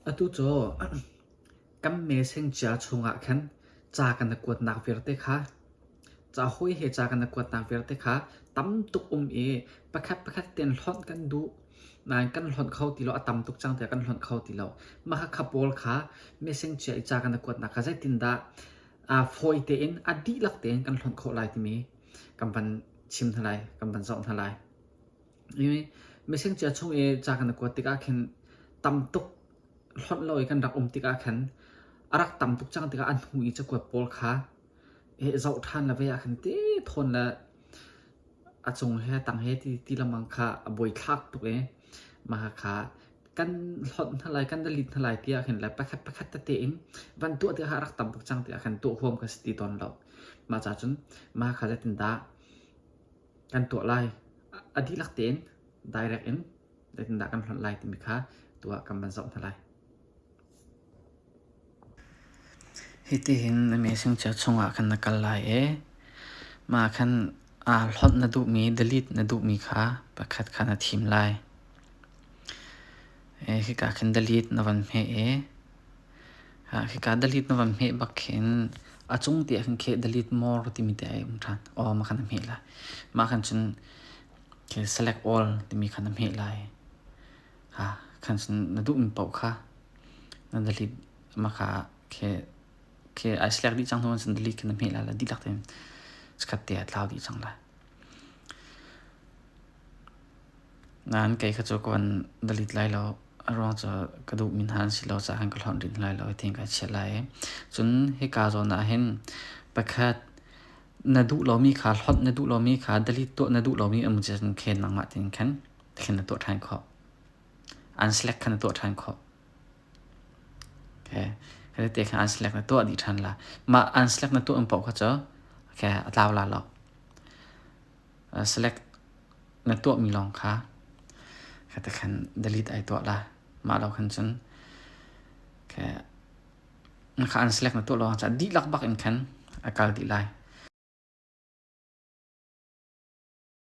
Atu cu kan meseng cia chungah khan ca kan i kuatnak vialte kha ca hawi he ca kan i kuatnak vialte kha tam tuk um i pakhat pakhat tein hlonh kan duh. Nain kan hlonh kho ti lo. A tam tuk cang tiah kan hlonh kho ti lo. Mah khakha pawl kha meseng cia i ca kan i kuatnak kha zeitindah fawi tein a dihlak tein kan hlonh khawh lai timi kan van chim hna lai, kan van zoh hna lai. Messenger chung i ca kan i kuat tikah khin tam tuk hlonh lo i kan rak um tikah khan a rak tam tuk cang tikah an hnu i cakuat pawl kha zoh ṭhan le vei ah khan ti thawn le a cung he tang he ti ti lengmang kha a buaithlak tuk i mah kha kan hlonh hna lai kan delete hna lai ti ah khin le pakhat pakhat tete in van tuah tikah a rak tam tuk cang tikah khan tuah huam ka si ti tawn lo. Mah ca cun mah kha zeitindah kan tuah lai. A dihlak tein direct in zeitindah kan hlonh lai timi kha tuah kan van zoh hna lai. Hitihin na messenger chungah kan na kal lai i mah khan aa hlawnh na duhmi, delete na duhmi kha pakhat kha na thim lai. Hika khan delete na van hmeh i Hika dalit na van hmeh bak khin a cung ti ah khin kheh dalit mor timi te ai um ṭhan. O ma khan na hmeh lai. Ma khan cun khil select all timi khan na hmeh lai. Khan cun na duhmi paoh kha na dalit ma kha kheh ai select dih cang hnu cun dalit kha na hmeh lai la dihlak tein chikkhat te ah tlau dih cang lai. Nan kei kha cu ka van dalit lai lo. A ruang cu ka duhmi hna an si lo caah ka hlonh rih lai lo i ti'n ka chiah lai i. Cun hika zawn ah hin pakhat na duh lomi kha hlonh na duh lomi kha dalit tuah na duh lomi um cun khen nang mah ti'n khan thlen na tuah ṭhan khawh. Unselect kha na tuah ṭhan khawh. Okay. Kha tete khan unselect na tuah dih ṭhan la. Mah unselect na tuah um paoh kha cu okay, a tlau la lo. select na tuahmi lawng kha kha te khan delete ai tuah la mah lo khan cun kha na kha an select na tuah lawng cah dihlak bak in khan a kal dih lai